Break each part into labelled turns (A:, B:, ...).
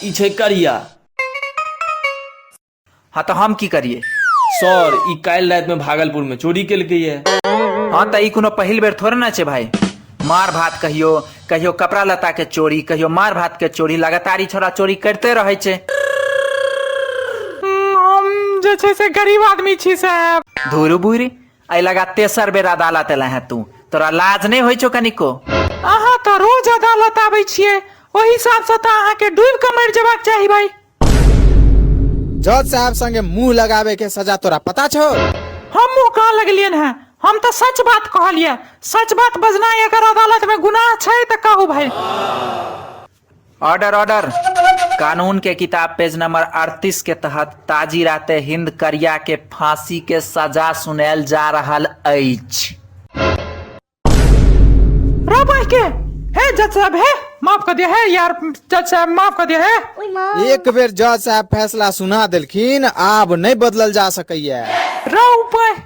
A: ई छै करिया हँ तऽ हम की करियै सर ई काल्हि रातिमे भागलपुरमे चोरी केलकैए हँ तऽ ई कोनो पहिल बेर थोड़े ने छै भाय मार भात कहियो कहियो कपड़ा लत्ता के चोरी कहियो मार भात के चोरी लगातार ई छोरा चोरी करते रहै छै हम जे छै से गरीब आदमी छी साहब धूरू बुरी एहि लगा तेसर बेर अदालत एला है तू तोरा लाज नहि होइ छौ कनिको अहाँ तऽ रोज अदालत आबै छियै ओहि हिसाबसँ तऽ अहाँके डूबि कऽ मरि जेबाक चाही भाई जज साहब संगे मुंह लगावे के सजा तोरा पता छौ हमहूँ कह लगलियन हैं हम तऽ सच बात कहलियै सच बात बजनाइ अगर अदालत में गुनाह छै तऽ कहू भाई ऑर्डर ऑर्डर कानून के किताब पेज नंबर 38 के तहत ताजी राते हिंद करिया के फांसी के सजा सुनायल जा रहल अछि रो बोल के हे जज साहब हे माफ कर दिया है यार जज साहब माफ कर दिया है एक बेर जज साहब फैसला सुना देलखिन आब नहि बदलल जा सकैया रो ऊपर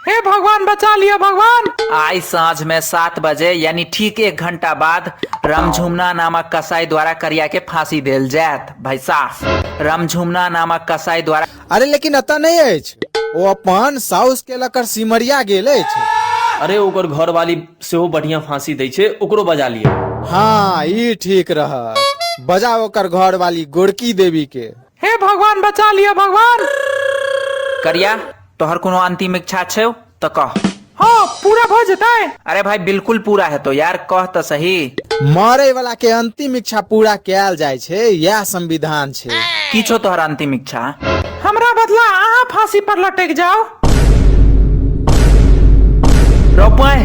A: हे भगवान बचा लिया भगवान आइ साँझ में सात बजे यानी ठीक एक घंटा बाद रामझुमना नामक कसाई द्वारा करिया के फांसी देल जायत भाई साहब रामझुमना नामक कसाई द्वारा अरे लेकिन एतऽ नहि अछि ओ अपन साउस के लकर सिमरिया गेल अछि अरे ओकर घर वाली सेहो बढ़िया फांसी दै छै ओकरो बजा लिया हाँ ई ठीक रहत बजाओ ओकर घर वाली गोरकी देवी के हे भगवान बचा लिअ भगवान करिया तोहर कोनो अंतिम इच्छा छौ तऽ कह हँ पूरा भऽ जेतै अरे भाई बिल्कुल पूरा हेतौ यार कह तऽ सही मरे वाला के अंतिम इच्छा पूरा कयल जाय छै यह संविधान छै की छौ तोहर अंतिम इच्छा हमरा बदला अहाँ फांसी पर लटक जाओ रौ पाय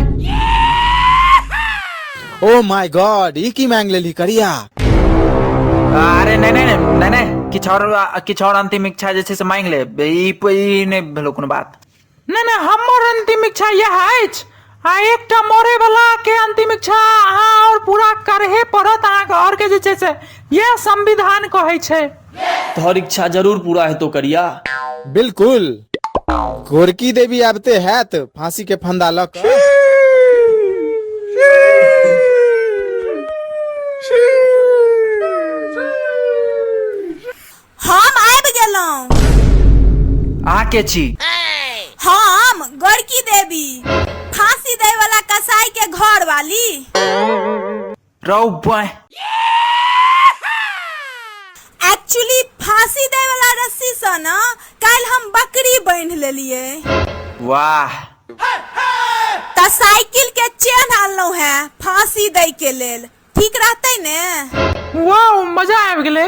A: ओ माय गॉड ई की मांग लेली करिया अरे नहि नहि नहि नहि नहि किछु आओर किछु आओर अंतिम इच्छा जे छै से मांगि ले ई प- ई नहि भेलो कोनो बात नहि नहि हमर अंतिम इच्छा यह अछि आ एकटा मरे वाला के अंतिम इच्छा अहाँ और पूरा करहे पड़त अहाँके और के जे छै से यह संविधान कहै छै तोहर इच्छा जरूर पूरा हेतौ करिया बिल्कुल गोरकी देवी आबते हैत फांसी के फंदा लऽ कऽ हम आबि गेलहुँ आके छी हम गोरकी देवी फांसी दै वाला कसाई के घर वाली रौ बॉय एक्चुअली फांसी दे वाला रस्सी से ना कल हम बकरी बांध लेलिए वाह त साइकिल के चेन आनलो है फांसी दे के लेल ठीक रहते ने वाह मजा आबि गेलै